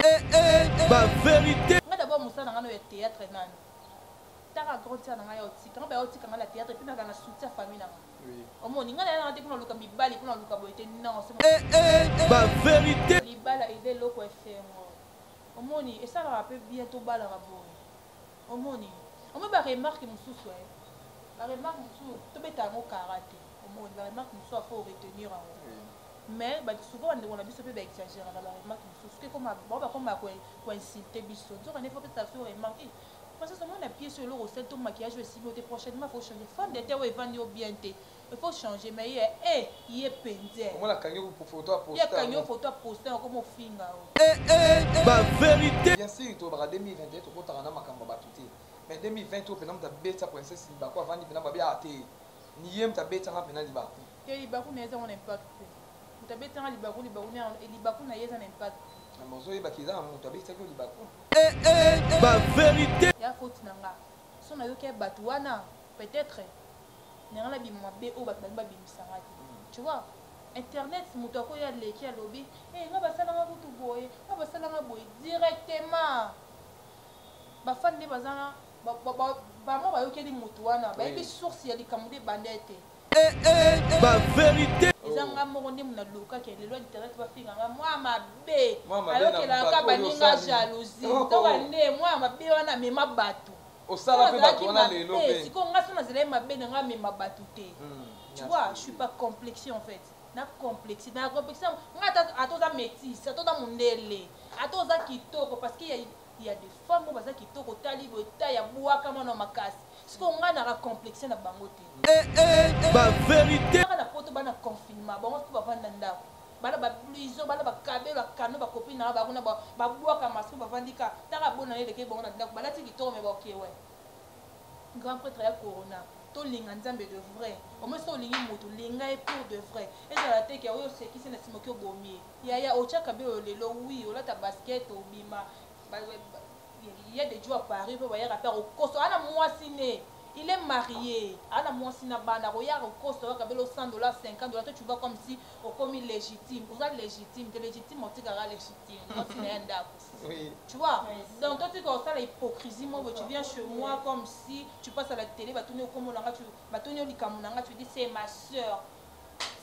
eh, eh, ba verite nga d'abord mosala na nga no ya théâtre nani taka grand tia na ngai ya otika nga baya otika nga na théâtre mpe nazala na soutien ya famille na nga omoni nga naya nanga te mpona luka mibali mpona luka boye te non eh, eh, eh, ba verité libala eza eloko esengo omoni esalaka mpe bien tobalaka boye omoni omoni baremarke mosusu e baremarke mosusu tobeta yango kara te omoni baremarke mosusu afo retenir yango Mais batu souvent ba ndeko na biso pe ba exagera na ba remarque mosusu ke koma ba ba koma ko ko insulter biso nzoka ne faut pesa biso remarque eh princesse omoni na pied sur eloko osali to maquillage oyo esili yo te prochainement faut changer fond de teint oyo evandi yo bien te il faut changer mais ye eh ye penze omona kangi ko photo a poster ye kangi ko photo a poster ko mo finga o eh eh ba verite bien sûr to ba 2021 to kotaka na makambo ba tuti mais 2020 to pena mta beta princesse ba ko avandi pena ba bia te ni ye mta beta na pena liba Te libaku na ye eza ngo na impact te. Moto abetisa nga libaku, libaku na ye, libaku na ye eza na impact te. Na ma ozoyeba ke eza moto abetisaki yo libaku. Eh eh ba verite. Eza faute na nga. Son na yoki ya batu wana peut etre na nga na bima mabe oyo batu balingi ba bimisa nga te. Tu vois? Internet moto ako ye aleki alobi eh nga basala nga kutu boye, nga basala nga boye. Directement ba fan nde baza na ba ba ba bango ba yokeli moto wana. Bayebi source ya likambo nde ebanda ye te. Eh eh ba verite. Eza nga moko nde muna loka ke lelo internet ba finga nga mwa mabe. Ayokela ka baninga jalousie. Oh, oh. Toka nde mwa mabe wana mema batu. Osala pe batu wana lelo pe. Siko nga sona zela mabe na nga mema batu te. Hmm, tu vois, je suis pas complexé en fait. na complexe na complexe nga ata oza métisse ata oza mondele ata oza kitoko parce que il ya des femmes oyo baza kitoko otali boye ta ya bwaka mwana makasi sikoyo ngai naka complexe na bango te eh, eh, eh, ba verité na poto bana confinement bango mpe bavanda ndako bana bablizo bana bakabelo akano bakopi na bango na babwaka maso bavandi ka taka bona ye elekei bango na ndako balati kitoko me baokewe grand prêtre ya corona tolinga nzambe de vrai omoi soki olingi motu linga ye pour de vrai ezala te ke oyo osekisi na nsima oki obomi ye Yaya otiaka biloyo lelo oui olata basket obima ba il ya de djo ya paris pe bayaka pe akokosa aza na mwasi ne il est marie aza na mwasi na bana akoyaka akokosa oyaka belo 100 dollars 50 dollars to tu vois comme si okomi legitime oza legitime te legitime otikaka legitime mwasi na ya ndako tu vois donc totika osala hypocrisie moko tu viens chez moi comme si tu passes à la télé batuni okombo na nga batuni yo likambo na nga tu dis c'est ma sœur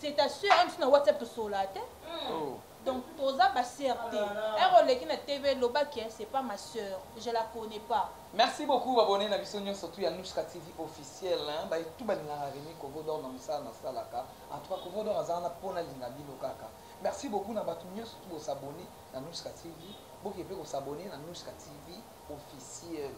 c'est ta sœur hein, na WhatsApp to sola te. Hmm. Oh. Donc toza ba sœur te. Ero ah leki na TV loba que c'est pas ma sœur, je la connais pas. Merci beaucoup abonné na biso nyoso surtout ya Nushka TV officiel hein. Ba tout ba linga Remy Kovo d'or na musala na salaka. En tout cas Kovo d'or azana pona linga bino kaka. Merci beaucoup na batu nyoso tout bo s'abonner na Nushka TV. Boke pe ko s'abonner na Nushka TV officiel.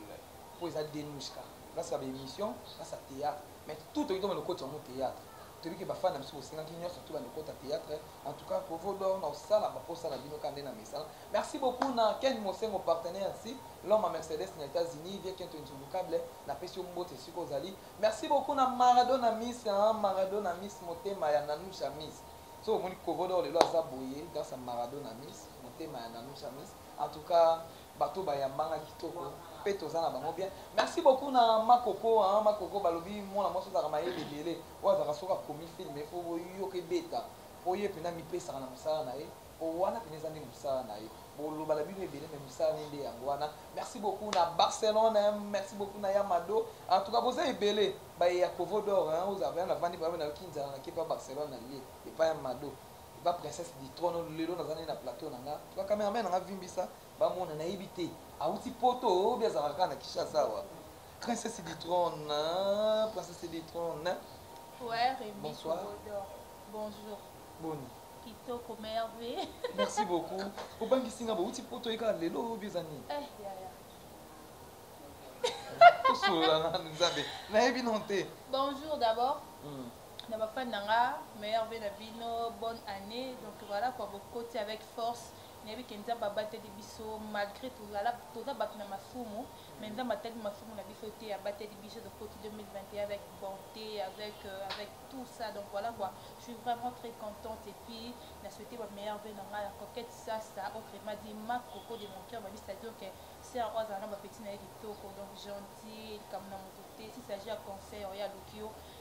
Po eza Denushka. Grâce à l'émission, grâce à théâtre. Mais tout toki toma lokoti yango theatre toyebi ke bafana biso bosengaki nyonso tula lokota theatre en tout cas kovo dor na osala baposa na bino ka nde na mesana merci beaucoup na ken mosengo partenaire nsi l'homme à mercedes na états-unis vie kento insouvocable napesi yo mbote esika ozali merci beaucoup na maradona miss maradona miss motema ya nanusha miss so omoni kovo dor lelo aza boye grâce à maradona miss motema ya nanusha miss en tout cas Bato bayamba nga kitoko pe toza na bango bien merci beaucoup na ma coco hein ma coco balobi mwana mwasi ozalaka mayele ebele oyo azalaka soki akomi film il faut boyoka ebeta po ye pena amipesaka na musala na ye po wana pena eza nde musala na ye boloba na bino ebele mais musala ne nde yango wana merci beaucoup na Barcelone hein merci beaucoup na ya Mado en tout cas boza ebele baye ya Kovo d'or hein oza vraiment na vandi ba nayoki nzala na ke pa Barcelone na lie epa ya Mado Oza princesse du trone lelo naza nde na plateau na nga ba cameraman na nga vimbisa ba mona na yebi te awuti poto ou bien azalaka kaka na Kinshasa awa princesse du trone princesse du trone Poire et Bonsoir. Micro-Bodor. Bonjour. boni Kitoko merveille. merci beaucoup obangisi nga bowuti poto ye kaka lelo oyo eza nini Eh, yaya. tosolola nanu nzambe nayebi non te Bonjour d'abord. Mm. na ba fan na nga meilleur vie na bino bonne année donc voilà quoi bokoti avec force nayebi ke nzambe abateli biso malgré tozala toza bato na masumu mais nzambe atali masumu na biso te abateli biso tokoti 2021 avec bonté avec euh, avec tout ça donc voilà quoi je suis vraiment très contente et puis na souhaité ba meilleur vie na ngai na coquette ça ça autrement dit ma coco de mon cœur babi c'est-à-dire que c'est un oiseau na ba petit na ye kitoko donc gentil likambo na moto te si s'agit ya conseil oya loki yo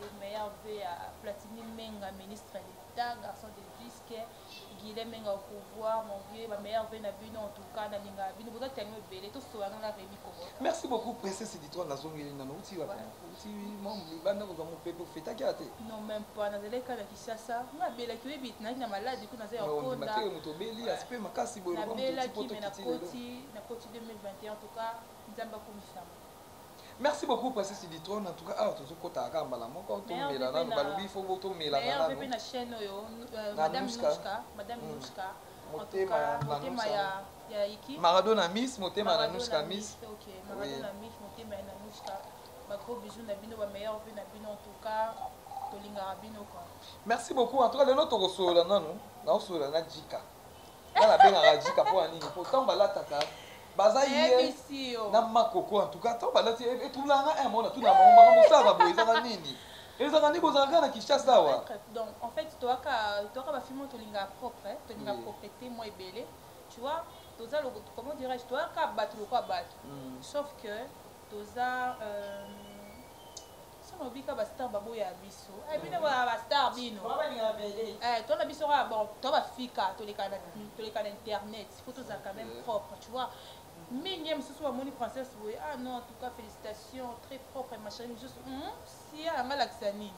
et meilleur vœu à Platini Menga, ministre d'État, garçon de disque, Guilhem Menga au pouvoir, mon vieux, ma meilleure vœu na bino en tout cas, na linga bino, boza tango ebele, to soa nga Rémi Kobo. Merci beaucoup princesse Ditwa na zongeli na uti wa uti mambo libanda ko zango pepe feta kia te. Non même pas na zele kana Kinshasa, na bela ki webi na na malade ko na zela ko na. Ba moto beli aspect makasi boyo ko moto poto kitile. Na bela ki na koti na koti 2021 en tout cas, nzamba ko misama. Merci beaucoup Princesse Iditrone en tout cas awa tozo kota kaka mbala moko to mela nanu balobi faut bo to mela nanu. Meilleur VP na chaîne oyo euh, Madame Nouchka, Madame hmm. Nouchka. Motema na Nouchka. Ya Iki. Maradona Miss, Motema na Nouchka Miss. OK, Maradona Miss, Motema na Nouchka. Ba gros bisous na bino, ba meilleur VP na bino en tout cas. Tolingaka bino quoi. Merci beaucoup. En tout cas lelo tokosolola nanu, na osolola na Jika. nga nabengaka jika mpo ya nini mpo ntango balataka baza ye na makoko en tout cas ntango balati etulanga e, e, mona tuna bango makambo osalaka boye ezaka nini ezalaka nde kozala kaka na kinshasa awa donc en fait toyaka toyaka bafilme oyo tolingaka propre eh, tolingaka proprete mwa ebele tu vois toza comment dirais-je toyaka bato lokola bato hmm. sauf que toza euh, Soki olobi kaka ba star baboya biso. Eh bino ba ba star bino. Ba balinga ba belle. Eh tona biso kaka bon to ba fika toleka na toleka na internet. Faut tozala quand même propre, tu vois. Mingi mosusu bamoni princesse boye ah non en tout cas félicitations très propre ma chérie mosusu hum, sia yanga alakisa nini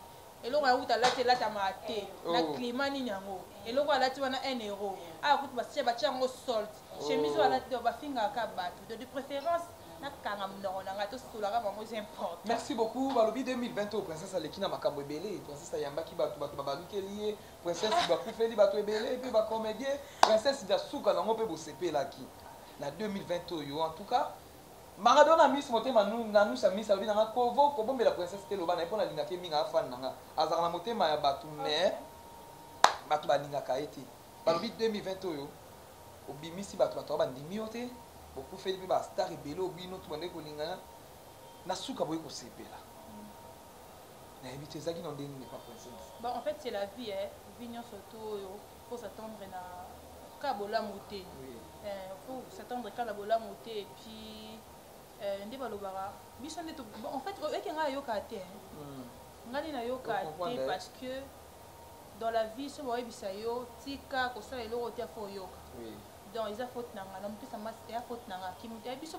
eloko yango kuta alati elatamaka te na oh. climat nini yango eloko alati wana un euro aya ah, kutu batia batia yango sold chemise oyo alati donc bafingaka kaka bato donc de préférence nakanga monoko na ngai tosolaka bango eza important merci beaucoup balobi 2020 oyo princesse aleki na makambo ebele princesse ayambaki bato bato babalukeli ye princesse bakufeli bato ebele mpe bacomédien princesse da suka nango mpe bosepelaki na 2020 oyo en tout cas maradona miss motema nanusa miss alobi na nga kovo kobombela princesse te loba na ye mpo nalingaka ye mingi afani na nga azalaka na motema ya bato mais bato balingaka ye te Bambi 2020 oyo obimisi batu batu ba ndimi yo te bokufeli pe ba star ebele oyo bino tout bandaki kolingana na suka boye kosepela nayebi te ezalaki na ndenge nini pa princesse bon en fait c'est la vie eh vie nyonso to oyo faut s'attendre na ka bolamu te oui. eh, faut s'attendre ka na bolamu te et puis eh, nde balobaka biso nde bon, en fait oyaki ngai ayoka te eh. mm. ngai nde nayoka te parce que dans la vie soki bayebisa yo tika kosala eloko te faut oyoka donc eza faute na nga na mopesa masque ya faute na nga kimutu ya biso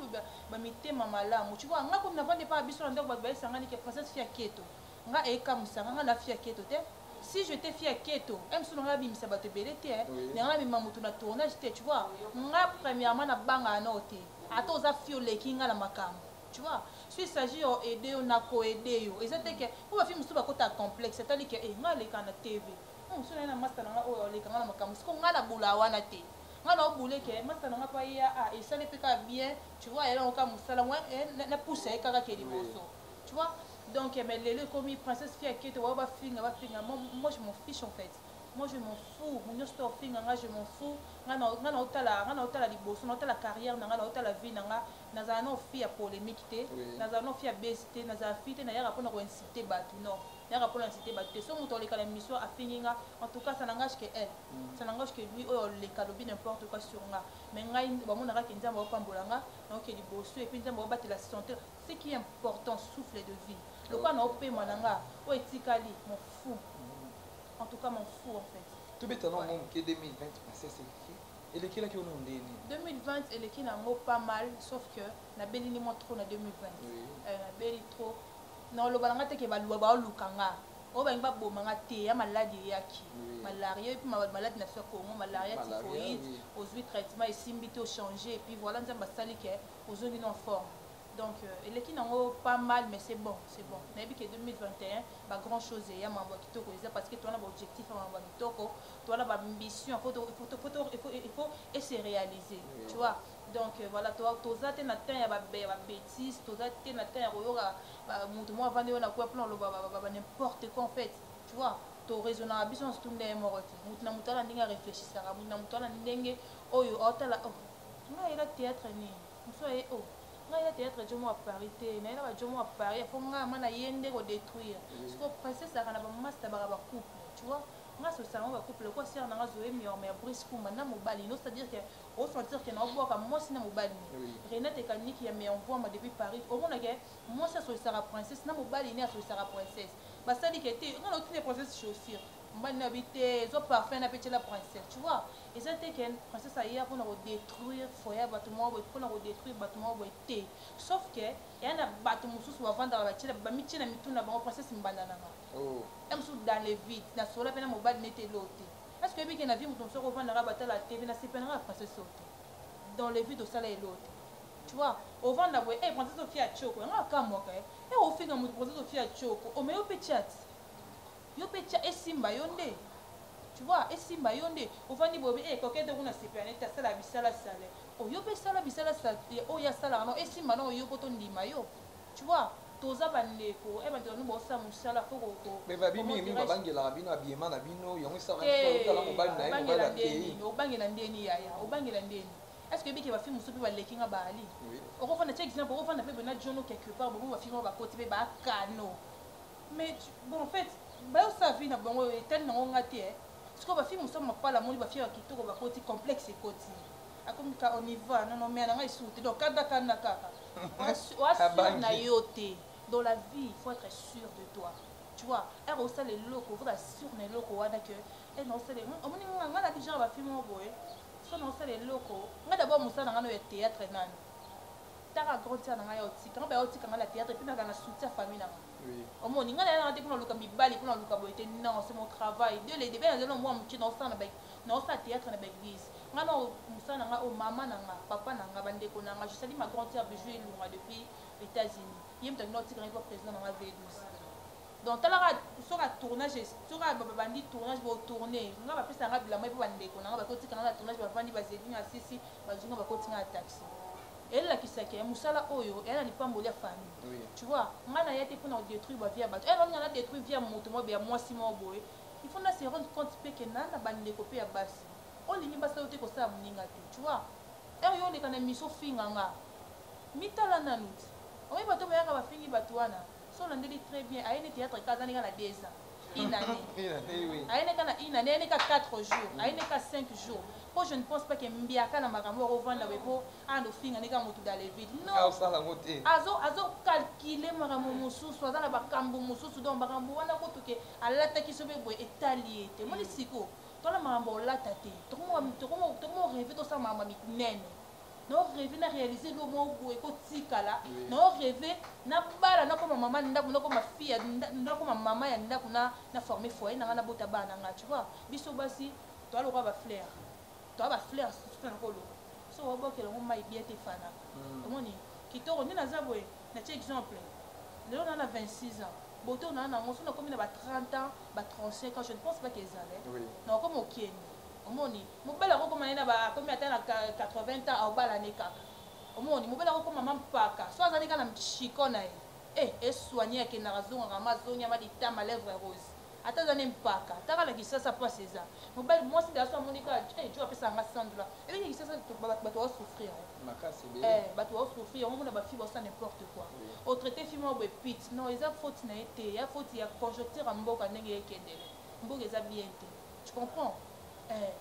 ba mitema malamu tu vois nga kutu na vandi pa biso na ndako bato bayesangani ke princesse fia keto nga ekamusa nga nga na fia keto te si je te fia keto msu na nga abimisa bato ebele te na nga mema moto na tournage te tu vois nga premièrement na banga anao te ata oza fio leki nga na makambo Tu vois, s'il s'agit ya aide yo, na ko aide yo. Eza te que, po ba filles mosusu ba kota complexe, etali que, eh nga aleka na TV, hum soki naye na masta na nga oyo aleka nga na makambo, sikoyo nga na bula wana te. Nga nao bouler que masta na nga pe aya, ah esala ye pe kaka bien, tu vois, ayela ngo kaka musala, mua eh na pusa ye kaka ake liboso. Tu vois, donc mais lelo ekomi princesse fille ya keto, ba oyo ba finga ba finga, moi je m'en fiche en fait. moi je m'en fous mu nyonso to ofinga nga je m'en fous nga na nga na otala nga na otala liboso na otala carrière na nga na otala vie na nga nazala na ofi ya polemique te nazala na ofi ya base te nazala fi te nayaka mpona ko insulte bato non nayaka mpona insulte bato te so moto oleka na mission afingi nga en tout cas ça n'engage que elle ça n'engage que lui oyo oleka alobi n'importe quoi sur nga mais ngai bamonaka ke nzambe aopambola nga naoke liboso epuis nzambe aobatela santé ce qui est important souffle de vie lokola naopema na nga oyo etikali mon fou En tout cas, m'en fous en fait. Tobeta na mwa moke 2020 princesse eleki elekelaki ono ndenge nini 2020 eleki na yango pas mal sauf que nabeli ni mwa trop na 2020 Oui. Eh, nabeli trop naoloba na nga te ke baluba baoluka nga oyo balingi baboma nga te ya maladi eyaki Oui. malaria epuis ma- maladi na biso ya congo malaria Malaria, typhoïde oui. ozwi traitement esimbi te ochange epuis voilà nzambe asali ke ozongi na forme donc euh, eleki nango pas mal mais c'est bon c'est bon nayebi ke 2021 ba grand chose eya mambo ya kitoko eza parce que towana baobjectif ya mambo ya kitoko towana baambition faut e se réaliser tu vois donc euh, voilà toza te na temps ya babétise toza te na temps ya koyoka moto moko avandi oyo na kue plan oloba n'importe quoi en fait tu vois toraisonnaka biso nyonso tunda ye moko te moto na moto ana ndenge aréfléchisaka moto na moto ana ndenge oyo aotala oh, nga yela théâtre nini Musu aye oh ngai ya theatre ya jomo wa paris te naye na ba jomo wa paris ya faut ngai ma naye nde ko detruire mm. sikoyo princesse azalaka na ba masta baka ba couple tu vois nga sosala ngo ba couple lokola sœur na nga zoe miorme ya brice kumba na mobali no c'est à dire que o sentir que na obwaka mwasi na mobali ne renate kaniki ya meilleur mvuama depuis paris omona ke mwasi asolisaka princesse na mobali ne asolisaka princesse basali ke te nga na otine princesse chaussure mbani na bi te zo parfum na pe tyela princesse tu vois eza te ken princesse aya mpona kodétruire foye ya bato moko boye mpona kodétruire bato moko boye te sauf ke eya na bato mosusu bavandaka bamitie na mitu na bango princesse mbanda nanga oh. ya mosusu dans le vide na solola mpe na mobali nete eloo te est ce que oyebi ke na vie moto mosusu akovandaka batala tv na sepelanga ya princesse oyo te dans le vide osala eloo te tu vois ovanda boye e eh, princesse ofia tioko yanga akamwaka e eh, eh, ofika moto princesse ofia tioko omeyo mpe tiati Yo pe tia esimba yo nde tu vois esimba yo nde ovandi boye pe eh coquette kuna sepela neti asala bisala sale oh yo pe sala bisala sale oyo asalaka nao esimba nao yo po to ndima yo tu vois toza ba ndeko eh ba ndeko no bosala musala faut ko ko mais babi mingi mingi babangelaka bino abiyema na bino yango esalaka eh, otala mobali na ye mobali akeyi obangela ndeni yaya obangela ndeni est ce que ebiki bafilme mosusu mpe baleki nga baali okofanda tia exemple okofanda mpe bena jono quelque part bobo bafilme oyo bakoti mpe bakano Mais bon en fait bayo sa vie na bango etali na ngo nga te eh. Siko ba fille musa mapala moni ba fille ya kitoko ba koti complexe ekoti. Akomi ka on y va non non mais na nga isuti donc kada kana kaka. Wa sur na yo te. Dans la vie, il faut être sûr de toi. Tu vois, elle reçoit les locaux, vous êtes sûr des locaux, voilà que elle reçoit les. On me dit, on a déjà un film en boy. Son reçoit les locaux. On a d'abord Moussa dans le théâtre, nan. Taka grande sœur na ngai yao tika nga ba yao tika nga na theatre puis na zala na soutien ya famille na nga omoni nga na yala nga te pona luka mibali pona luka boye te non c'est mon travail de les debats na zelo mwa muke na osala na ba na osala theatre na ba église nga na musala na nga o mama na nga papa na nga ba ndeko na nga je salue ma grande sœur bijou elunga depuis Etats-Unis ye mutu akenda otika nga epa president na nga V12 Donc tala ka soka tournage soka ba bandi tournage bo tourner nga ba pesa nga bilamba pe ba ndeko na nga ba ko tika nga na tournage ba vandi ba zeli nga sisi ba zunga ba ko tika na taxi ela kisaki ya musala oyo ela na lipamboli ya famille oui. tu vois nga na yate pona ko détruire ba vie ya bato ela nga na détruire vie ya moto mo ya mwasi mo boye il faut na se rendre compte pe que na na ba ndeko pe ya basi olingi basi oyo te kosala moninga te tu vois heure yo oleka na miso finga nga mitala nanu ti oyebi bato bayaka bafingi bato wana So olandeli très bien, aye nde theatre kaka aza nde kaka na deux ans. Une annee. Une annee, oui. Aye nde kaka na une annee, aye nde kaka quatre jours, aye nde kaka cinq jours. Po je ne pense pas que Mbiaka na makambo oyo akovanda boye po ando finga nde kaka motu dans le vide. Non. Akosala yango te. Azo azo calculer makambo mosusu, aza na bakambo mosusu donc makambo wana kutu ke alataki sobe boye etali ye te. Omoni siko? Tala makambo ya kolata te. Tokoma tokoma tokoma reve tosala makambo ya minene. nao reve na réalise elo moko boye ekotikala nao reve nabala nakoma mama na ndako nakoma fille nakoma mama ya ndako na na forme foyer na ngai nabota bana na ngai tu vois biso basi toa lokola bafleur toa bafleur susu na koloba so obokela yango mai bia te fana hmm. omoni kitoko nde naza boye natie exemple lelo na na 26 ans boto na nango so nakomi na ba 30 ans ba 35 ans je ne pense pas que ezale nakokoma okende Omoni? Mobali akokoma ye na ba akomi ata na 80 ans aobala ne kaka. Omoni? Mobali akokoma ma mpaka. Soki aza ne kaka na mtshiko na ye. Eh, e soigner akendaka azongaka ma zongi ya ma litama lèvres roses. Ata aza ne mpaka. Ata kaka na Kinshasa pasi eza. Mobali, mwasi nde aso amoni kaka eh Djo apesaka nga 100 dollars. Eleki na Kinshasa batu bao souffrir hein. Makasi ebele. Eh, batu bao souffrir. Yango omona ba filles baosala n'importe quoi. O traiter fille moko boye pit. Non, eza faute na ye te. Ea faute ya conjoncture ya mboka ndenge ekendele. Mboka eza bien te. Tu comprends? Eh,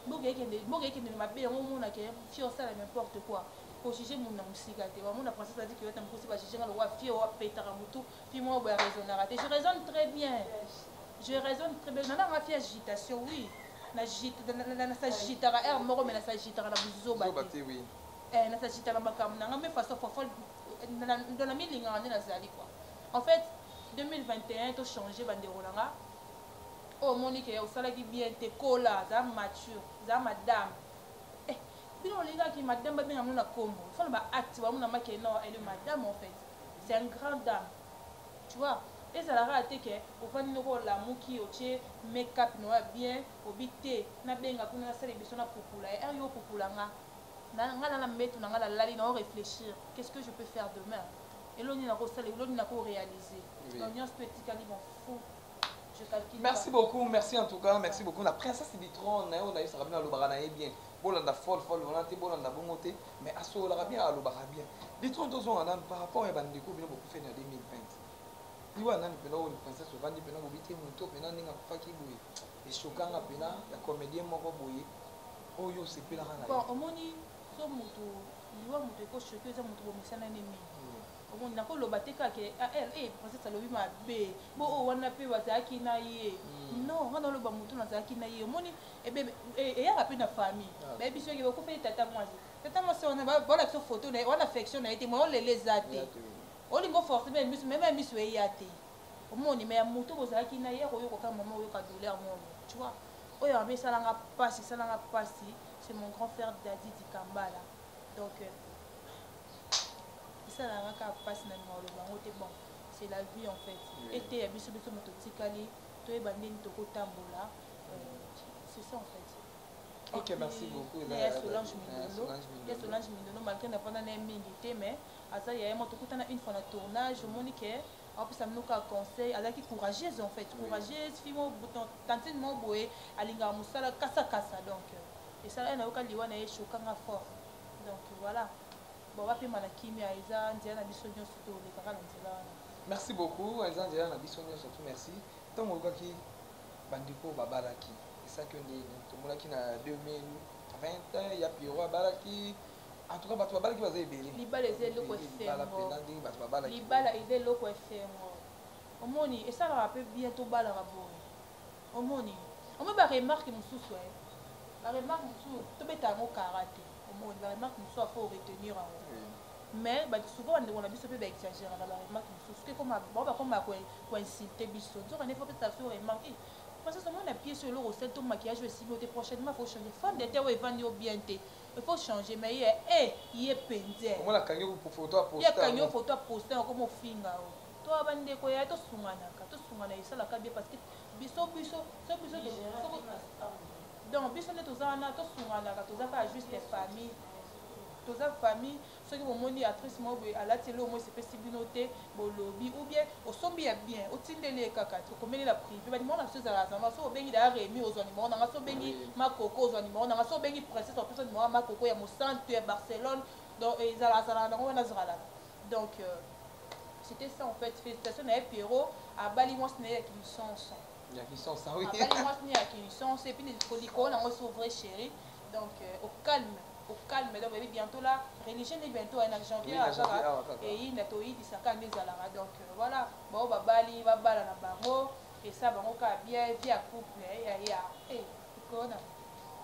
mboka ekende, mboka ekende na mabe yango omona ke fio osala n'importe quoi. Ko juger mutu na musika te. Wamona princesse a dit que yota mukusi ba juger nga lokola fio wa petaka mutu. Puis moi boya raisonnaka te. Je raisonne très bien. Je raisonne très bien. Nana nga fie agitation, oui. Na jit, na, na, na, na sa jitaka heure moko mais na sa jitaka na buzoba Zoba te. te, oui. Eh, na sa jitaka makambo na nga mais façon fofolle na- na- ndo na milingaka nde nazali quoi. En fait, 2021 to changer bandeko na nga Oyo omoni ke osalaki bien te kola za mature za madame eh bino bolingi kaka ki madame ba benga bino na kombo il faut na ba acte ba monama ke non elle est madame en fait c'est un grand dame tu vois ezala kaka te ke ovandi noko olamuki otie makeup na yo ya bien obi te na benga kuna na sala emission na pupula ye eh yo pupula nga na nga na mbetu na nga na lali na o reflechir qu'est ce que je peux faire demain elo nini nako sala elo nini nako realiser donc nionso to etikali mon fou merci beaucoup merci en tout cas merci beaucoup na princesse bitron na yo nayebisaka bino alobaka na ye bien bolanda fol fol wana te bolanda bongo te mais asololaka bien alobaka bien bitron tozonga nanu par rapport ya bandeko bino bokufeli na 2020 liwa nani mpena oyo princesse ovandi mpena bobi te moto mpena ndenge akufaki boye eshokanga mpena ya comédien moko boye oyo osepelaka na omoni so moto liwa moto ekoshoki eza moto bomesana ne mingi omoni nako loba te kaka ah elle eh princesse alobi mabe bo oyo oh, wana pe bazalaki na ye hmm. non nga naloba moto nazalaki na ye omoni ebebe eh, eyaka pe na famille ah. bayebi biso yeke bakufeli tata mwasi tata mwasi wana baola biso photo na ye wana affection na ye te moya olela eza te olingi oforce meme misu meme ya misu eya te omoni me ya moto bozalaki na ye akoyoka kaka mama oyoka douleur moko tu vois oyo mabe esalanga mpasi esalanga mpasi c'est mon grand frère dadi dikambala donc euh, esalaka kaka mpasi na linga oloba yango te bon c'est la vie en fait mm. eteya biso biso moto otikali toyeba ndeni tokotambola euh, c'est ça en fait ok merci beaucoup na ya solange mindolo ya solange mindolo malgré navanda na ye mingi te mais aza yaya mo tokutana une fois na tournage omoni ke apesa bino kaka conseil azalaki courageuse en fait courageuse fille mo tantine mo boye alingaka mosala kasakasa donc esala ye nayoka liwa na ye chokanga fort donc voilà bon bapema na kimia eza nzela na biso nyonso tolekaka na nzela wana merci beaucoup eza nzela na biso nyonso tu merci ntango olukaki bandeko babalaki esaki yo ndeni tomonaki na 2020 ya piero abalaki en tout cas bato babalaki baza ebele libala eza eloko esengo libala eza eloko esengo omoni esalaka mpe bien tobalaka boye Omoni? Omoni ba remarque mususu eh ba remarque mususu tobeta yango kara te omoni ba remarque mususu ya faut retenir yango mais ba souvent bandeko na biso mpe ba exageraka ba remarque mususu ke koma bango bakoma ya ko insulte biso nzoka nde faut pesa biso remarque eh princesse omoni na pièce eloko osali to maquillage oyo esili yo te prochainement faut changer femme de terre oyo evandi yo bien te il faut changer mais ye eh ye penze omona kangi yo photo ya posta ye kangi yo photo ya posta okoma ofinga oyo Toi ba ndeko ya to sunganaka, to sungana esala ka bien parce que biso biso so biso donc biso nde toza wana to sunganaka toza ka juste famille toza famille soki bomoni actrice moko boye alati eloko moko esepesi bino te bolobi ou bien osombi ya bien otindeli ye kaka okomeli na privé banimero na biso ezalaka zanga soki obengi daya remi ozwa nimero nanga soki obengi makoko ozwa nimero nanga soki obengi princesse opesa nimero ya makoko ya mosantu ya barcelone donc ezalazalaka nango wana zalaka Donc euh, c'était ça en fait. Félicitations na Pierrot abali mwasi na ye ya kilisonso. Ya kilisonso oui. Abali mwasi na ye ya kilisonso et puis likolo na ngo so vrai chéri. Donc euh, au calme au calme donc ebi bientôt là religion nde bientôt ayina janvier azaka eyinda toyibisaka nde ezalaka donc euh, voilà bango babali babala na bango esa bango kaka bien vie ya couple eh, ya ya eh, likolo na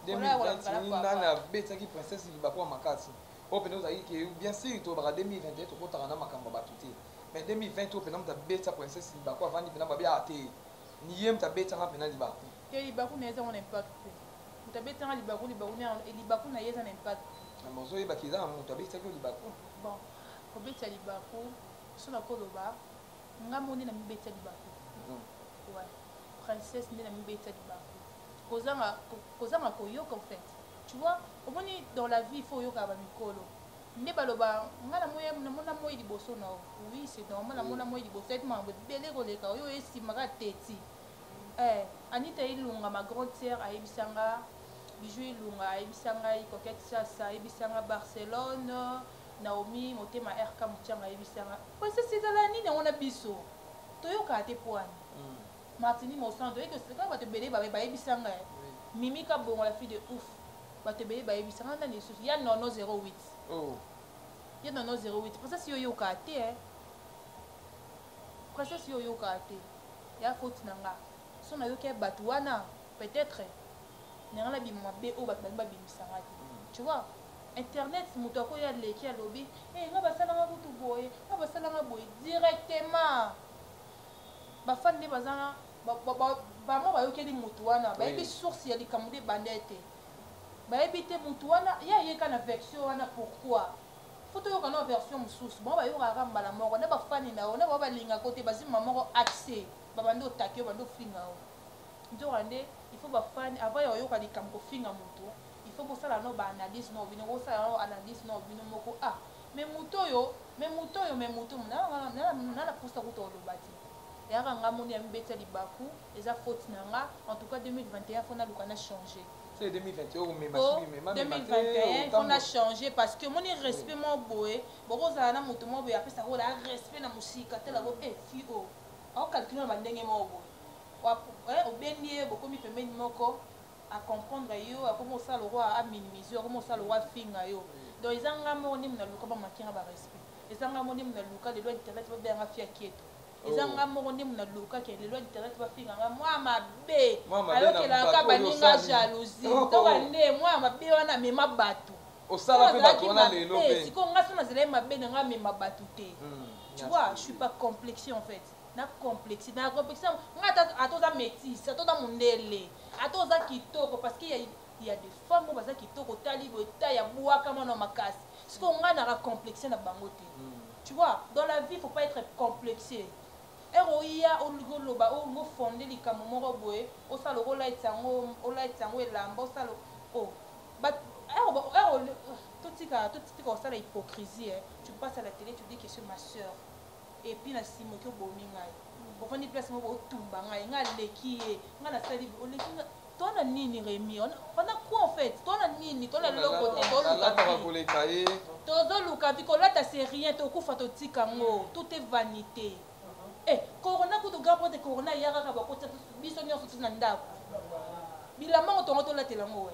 2020 nani abetaki princesse libakwa makasi Oyo pena ozalaki keyu bien sur tolobaka 2021 tokotaka na makambo ya batu te mais 2020 oyo pena mutu abetisa princesse libaku avandi pena babi ah te niye mutu abetisa nga pena libaku te libaku naye eza ngo na impact te mutu abetisa nga libaku libaku na eh, libaku naye eza na impact te mais ozoyeba ke eza na mutu abetisaki yo libaku bon kobetisa libaku so nakoloba nga moni na mibetisa libaku mm. ouais princesse nde na mibetisa libaku kozanga kozanga koyoka en fait tu vois omoni dans la vie il faut oyoka ba mikolo nde baloba nga na moya na mona moyi liboso na oui c'est normal na mona moyi liboso et mambo bele koleka oyo esimaka teti eh Anita Ilunga ma grande sœur ayebisanga Bijou Ilunga ayebisanga Coquette Sasa ayebisanga Barcelone Naomi motema RK Muchanga ayebisanga parce que c'est la nini yango na biso toyoka te poani Martini mosantu oye ko seka batu ebele ba yebisa nga eh Mimi kabongo la fille de ouf batu ebele ba yebisa nga nani lisusu ya nono 08 oh ya nono 08 princesse yo oyoka te eh princesse yo oyoka te ya faute na nga so na yoki ya batu wana peut être na nga na bima mabe oyo batu balingi ba bimisa nga te hmm. tu vois internet moto akoya leki alobi e eh, nga basalanga kutu boye nga basalanga boye directement Ba fan nde baza na vraiment bayokeli mutu wana bayebi source ya likambo nde ebandee te bayebi te mutu wana ye aye kaka na version wana pourquoi faut toyoka nao version mosusu bango bayokaka kaka mbala moko na bafani na yo na bao balingaka yo te bazwi mbala moko accès babandi otake yo bandi ofinga yo nzoka nde il faut bafani avant ya koyoka likambo kofinga mutu il faut bosala nao baanalyse nao bino bosala nao analyse nao bino moko ah Mais mutu oyo, mais mutu oyo, mais mutu oyo, nayaka nga na, na, na, na posa kutu ya koloba te. Yaka nga moni amibetisa libaku, eza faute na nga, en tout cas 2021 faut naluka na changer. C'est 2021 oyo mema Po, soki mema mema te 2021 faut na otambola. changer parce que moni respect mo boye, bokozala na mutu mo boye apesa ko la respect na musika tala ko eh fille oyo. Ako calculer na ba ndenge moko boye. Wa- eh, Obendi ye bokomi pembeni moko, a comprendre yo akomi kosala lokola a minimise yo akomi kosala lokola afinga yo donc eza nga moko nde mona luka bamaki nga ba respect eza nga moko nde mona luka lelo internet babela nga fia kieto eza oh. nga moko nde mona luka ke lelo internet bafinga nga mwa mabe ayokelaka baninga jalousie oh, oh. toka nde mwa mabe wana mema bato osala mpe bato wana lelo mpe sikoyo nga so nazalaki mabe na nga mema bato te hmm, tu vois je suis pas complexe en fait na complexe na complexe nga ata ata oza métis ata oza mundele ata oza kitoko parce que ya ya de femme baza kitoko tali boye ta ya bwaka mwana wa makasi siko nga na ka complexe na bango te hmm. tu vois dans la vie faut pas être complexé ere oya olingi oloba olingi ofonde likambo moko boye osala lokola olayetisa yango olayetisa yango elamba osala o oh, totika totika kosala hypocrisie tu passe à la télé tu dis que ce ma soeur et puis na sima oki obomi ngai ovandi place moko otumba ngai ngai aleki ye ngai nasali oleki ngai tona nini remi ona quoi en fait tona nini tona loko te toluka ye tozoluka vi kolata c'est rien tokufa totika ngo tout est vanité eh corona kutu grand prêtre corona ya kaka bakotisa biso nyonso ti na ndako bilamba ngo tongo tolatela ngo we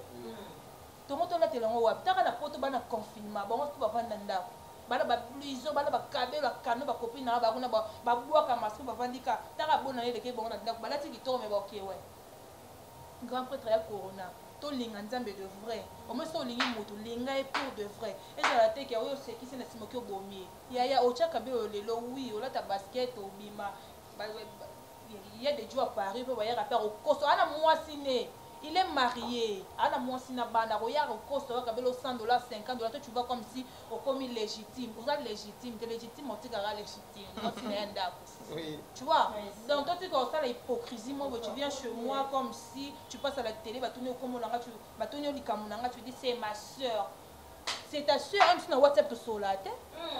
Tongo tolatela yango wapi? Taka na poto bana confinement bango tout bavandi na ndako bana ba bluison bana ba kabelo ya kano ba copine na ba kuna ba bwaka masque bavandi ka taka bona ye leke bango na ndako balati kitoko me baokewe grand prêtre ya corona tolinga nzambe de vrai omoi soki olingi motu linga ye pour de vrai ezala te ke oyo osekisi na nsima oki obomi ye yaya otya kabelo lelo wi olata basket obima Il y a des djo à Paris pe bayaka pe akokoso ana muasi ne il est marie ana muasi na bana akoya akokoso kaka belo 100 dollars 50 dollars toi tu vois comme si okomi legitime oza legitime te legitime otikaka legitime muasi na ya ndaku tu vois donc toi tika osala hypocrisie moi tu viens chez moi comme si tu passes à la télé batuni okomo na nga tu batuni olikambo na nga tu dis c'est ma sœur c'est ta sœur même si na WhatsApp tosolola te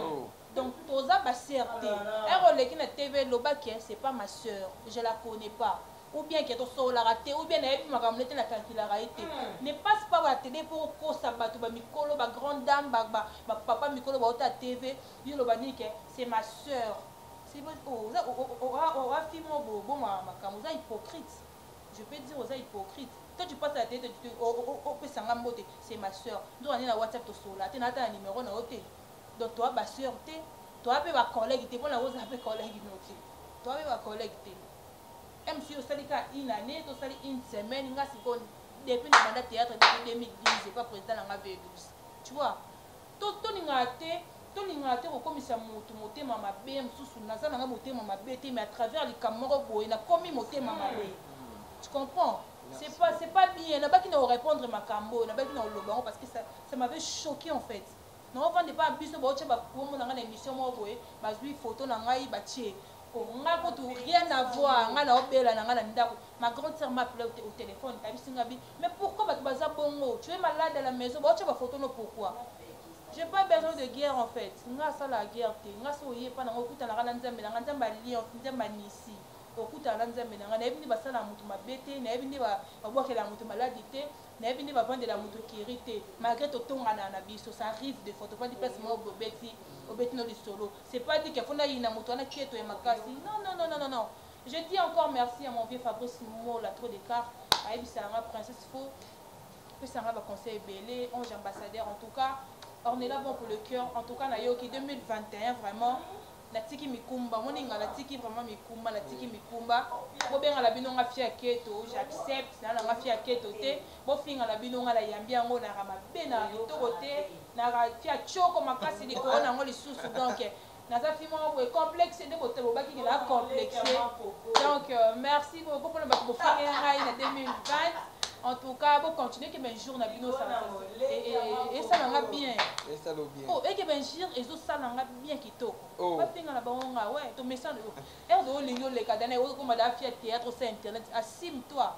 oh. Donc toza ba sœur te. Heure oleki na TV loba que c'est pas ma sœur, je la connais pas. Ou bien que tosololaka te, ou bien nayebi makambo nete na calculaka ye te. Hmm. Ne passe pas ba tele po okosa bato ba mikolo, ba grande dame, ba, ba, ba papa mikolo bauta TV, yo loba nini que c'est ma sœur. C'est bon, oh, oza oh, oh, oh, ah, oh, afi mo bo bo makambo, oza hypocrite. Je peux dire oza hypocrite. Toi tu passes la télé, tu opesa nga mbote, c'est ma sœur. Ndoka nini na WhatsApp tosola te, na ata na numéro na yo te. donc toa ba sœur te toa pe ba collègue te pona oza pe collègue no te toa pe ba collègue te même si osali ka une année to sali une semaine nga siko depuis na banda théâtre depuis 2010 epa président na nga V12 tu vois to to ninga te tolingaka te kokomisa motu motema mabe mosusu naza nanga motema mabe te mais à travers likambo moko boye nakomi motema mabe tu comprends c'est pas c'est pas bien nabaki na korépondre makambo oyo nabaki na koloba yango parce que ça, ça m'avait choqué en fait Nao vanda epai ya biso bao tia ba kombo na ngai na emission moko boye ba zui photo na ngai ba tie ko ngai kutu rien à voir ngai nao bela na ngai na ndaku ma grande sœur m'a appelé au telephone ayebisi ngai bi mais pourquoi batu baza bongo tu es malade à la maison bao tia ba photo no pourquoi j'ai pas besoin de guerre en fait ngai asalaka guerre te ngai soki oye epai na ngai okutanaka na nzambe na ngai nzambe alliance nzambe anisi okutana na nzambe na ngai nayebi nde basalaka moto mabe te nayebi nde babwakelaka moto maladi te Nayebi nde bavandela mutu ecurie te malgre totongana na biso ça arrive de fois tovandi place moko boye obeti obeti no lisolo c'est pas dit que faut nayina mutu wana keto ya makasi non non non non non je dis encore merci à mon vieux Fabrice Mola trop de car ayebisa nga princesse faut pesa nga ba conseil ebele ange ambassadeur en tout cas ornela bon pour le cœur en tout cas nayoki 2021 vraiment natiki mikumba omoni nga natiki vraiment mikumba natiki mikumba bobenga na bino nga fia keto j'accepte na nanga fia keto te bofinga na bino nga nayambi yango naka mabe naka kitoko te naka fia choko makasi likolo na yango lisusu donc naza fi moko boye complexe nde boto bobaki ke na complexe donc euh, merci beaucoup mpona bato bofinge ngai na 2020 en tout cas bo continuer que ben jour na bino ça ça et ça nga bien oh et que ben jour ezo ça nga bien kitoko oh. bafinga na bango nga we tomesana yo erdo olingi oleka dana oyo koma da afia théâtre osa internet asime toi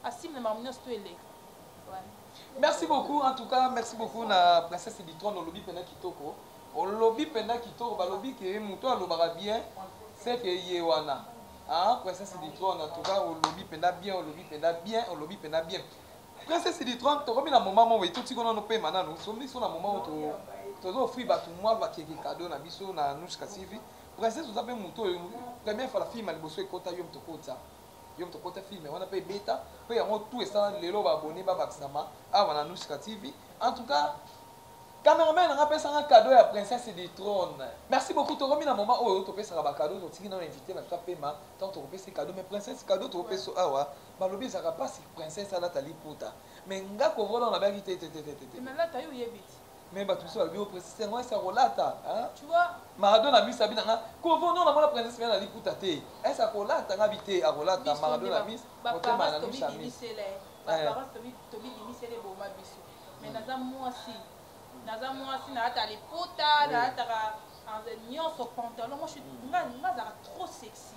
asime na makambo nyonso to eleka merci beaucoup en tout cas merci beaucoup na princesse bitrone olobi mpena kitoko olobi mpena kitoko balobi ke moto alobaka bien seke ye wana princesse bitrone en tout cas olobi mpena bien olobi mpena bien olobi mpena bien Princesse Litron, tokomi na moment moko etuti kona no pema nanu. So miso na moment to tozo offrir batu mwa ba keke cadeau na biso na Nushka TV. Princesse oza pe moto oyo première fois la film liboso ekota yo moto kota. Yo moto kota film wana pe beta pe yango tout esala lelo ba abonné ba bakisama awa na Nushka TV. En tout cas Cameraman nanga pesa nga cadeau ya princesse du trône. Merci beaucoup tokomi na moment oyo topesaka ba cadeau totiki na invité na biso pema tant tokopesa cadeau mais princesse cadeau tokopesa awa balobi ezalaka pasi princesse alata liputa me nga kovola wana nabaki te te te te te nalata yo oyebi ti me bato mosusu balobi o oh, princesse yango esi akolata tu vois maradona amisa bi na nga kovo no namona princesse mena na liputa te esi akolata nga bi te akolata maradona mis motema na misa mis tobibimisele boma biso me naza mwasi naza mwasi nalata liputa nalataka nyonso pantalon moi nga azalaka trop sexy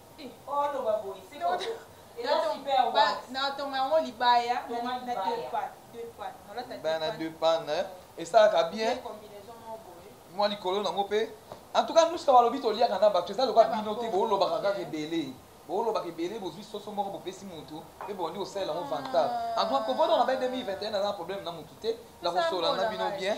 natonga yango libaya na deux pane esalaka bien mwa likolo nango mpe en tout cas nuska balobi toliaka na bato eza lokola bino te boolobaka kaka ebele boolobaka ebele bozwi soso moko bopesi motu mpe bondi kosalela yango vantable en tout cas kobodo na bai 2021 aza na problème na motu te na kosola na bino bien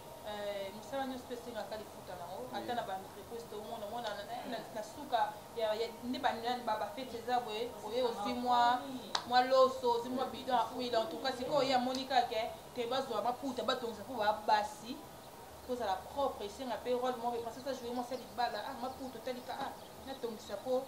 Eh, mosala nyonso mpe esengaka lifuta nango ata na baentreprise tomona mona na suka nde bafeti eza boye oye ozwi mwa mwa loso ozwi mwa bidon ya huile en tout cas sikoyo oye amoni kake te bazwa maputa batongisa mpo babasi kozala propre esenga mpe role moko epasasa joue mwasi ya libala ah maputa otalika ah natongisa mpo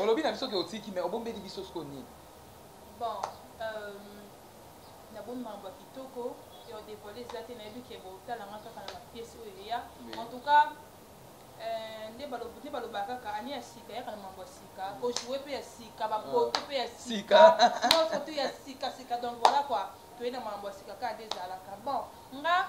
Olobi na biso ke otiki mais obombeli biso siko nini? Bon, euh, na bombi mambo ya kitoko et on dévoile eza te nayebi ke botala nga kaka na ba pièces oyo eya. En tout cas, euh, nde baloba nde baloba kaka année ya sika yaka na mambo ya sika, ko jouer pe ya sika, ba photo ah. pe ya sika. Moi photo ya sika sika donc voilà quoi. Toyena mambo ya sika kaka nde ezalaka. Bon, nga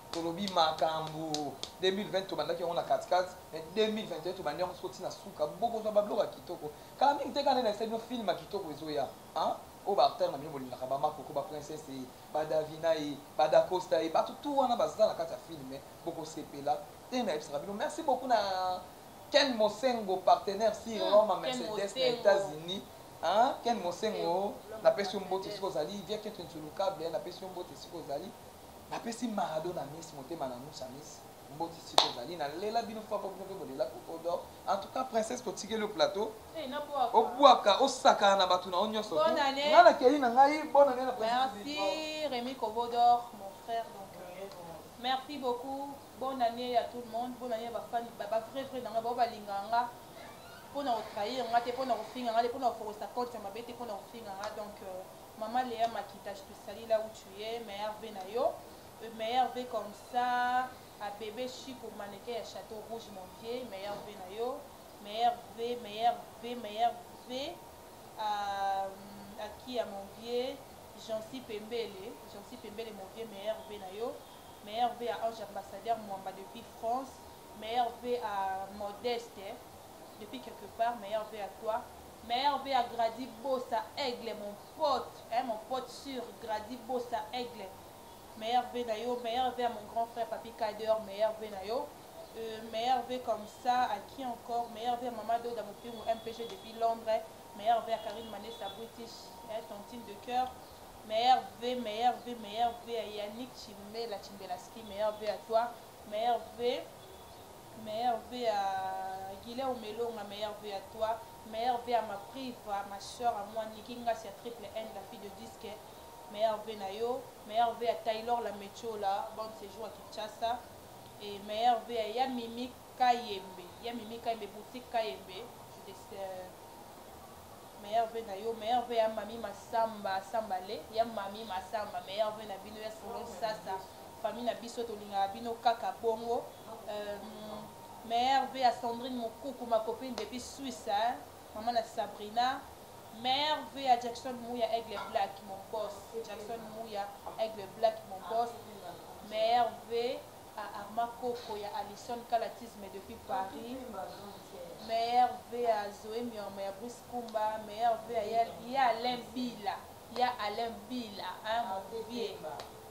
Tolobi makambu 2020 tobandaki yango na kati kati mais 2021 tobandi yango soti na suka bokozwa ba bloka kitoko kala mingi te kala nde nayesaki bino film kitoko ezoya hein oyo ba acteur na bino bolingaka ba makoko ba princesse ye ba davina ye ba dacosta ye bato tout wana baza na kati ya film bokosepela te nayebisaka bino merci beaucoup na ken mosengo partenaire si hmm, roma mercedes na états-unis hein ken mosengo napesi yo mbote esika ozali via keto nsulu cable napesi yo mbote esika ozali Napesi Maradona miss motema na nous amis mbote esika ozali na lela bino fort po bino pe bolela coco d'or en tout cas princesse totikeli yo plateau eh, obwaka osakana na bato na yo nyonso nga na keli na ngai bonne année na merci Rémi Kobo d'or mon frère donc euh, merci beaucoup bonne année à tout le monde bonne année à ba fan ba ba vrai vrai nanga ba balinga nga pona ko trahir nga te pona ko finga nga te pona ko fokosa compte ya mabe te pona ko finga nga donc euh, Maman Lea Makita je te salie là où tu es meilleur vie na yo euh, meilleur vie comme ça à bébé Chico mannequin ya château rouge mon vieux meilleur vie na yo meilleur vie meilleur vie meilleur vie à, euh, à qui à mon vieux Jancy Pembele Jancy Pembele mon vieux meilleur vie na yo meilleur vie à Ange ambassadeur Mwamba depuis France meilleur vie à Modeste depuis quelque part meilleur vie à toi meilleur vie à Grady Bossa Aigle mon pote hein mon pote sur Grady Bossa Aigle meilleur vie na yo meilleur vie à mon grand frère Papi Kader meilleur vie na yo euh, meilleur vie comme ça à qui encore meilleur vie à Maman Doda Mopingu MPG depuis Londres meilleur vie à Karine Manessa British hein, tantine de cœur meilleur vie meilleur vie meilleur vie à Yannick Chimbela Chimbelaski meilleur vie à toi meilleur vie Meilleur vœux à Guilherme Elonga meilleur vœux à toi meilleur vœux à ma Priva ma soeur à moi Nicky Ngasi ya Triple N la fille de disque meilleur vœux na yo meilleur vœux à Taylor la Metshola bonne sejour à Kinshasa et meilleur vœux à ya Mimi Kayembe ya Mimi Kayembe boutique Kayembe je te meilleur vœux na yo meilleur vœux ya mami masamba samba le ya mami masamba meilleur vœux na bino ya salon sasa famille na biso tolingaka bino kaka bongo Meilleur vie à Sandrine Mukuku ma copine depuis Suisse hein. Maman na Sabrina. Meilleur vie à Jackson Mouya Aigle Black mon boss. Jackson Mouya Aigle Black mon boss. Meilleur vie à Arma Koko ya Alison Kalatisme depuis Paris. Meilleur vie à Zoé Miorma ya Bruce Kumba. Meilleur vie à ya Alain Bila. Ya Alain Bila hein mon vieux.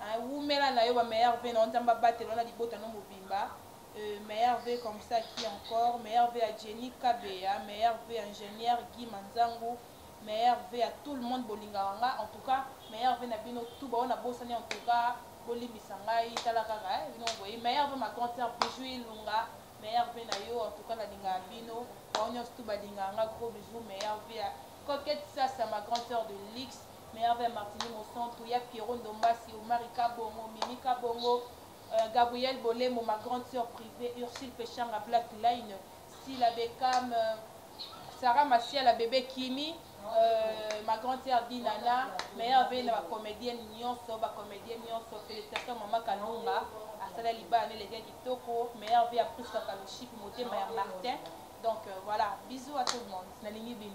Ahh wumela na yo ba meilleurs vœux na yo nzambe abatela yo na libota no mobimba euh meilleurs vœux comme ça à qui encore meilleurs vœux à Jenny kabeya meilleurs vœux à ingenieur Guy manzangu meilleurs vœux à tout le monde bolingaka nga en tout cas meilleurs vœux na bino tout ba oyo na bosani en tout cas bolimbisa ngai tala kaka hein bino mo boyi meilleurs vœux ma grande sœur Bijou Ilunga meilleurs vœux na yo en tout cas na lingaka bino bango nionso tout balingaka nga gros bisous meilleurs vœux à Coquette Sasa ma grande sœur de luxe Merveille Martini Mosantu, ya Pierrot Ndombasi, Omari Kabongo, Mimi Kabongo, euh, Gabrielle Bolembo, ma grande sœur privee, Ursule Peshanga, Black Line, Sila Beckham, euh, Sarah Masiala, Bebe Kimi, euh, ma grande sœur Dinana, Merveille na ba comédienne nyonso, ba comédienne nyonso, félicitations maman Kalunga, asala libala ne lege kitoko, Merveille a Prisca Kalushipi, motema ya Martin. Donc euh, voilà, bisous à tout le monde. Nalingi bino.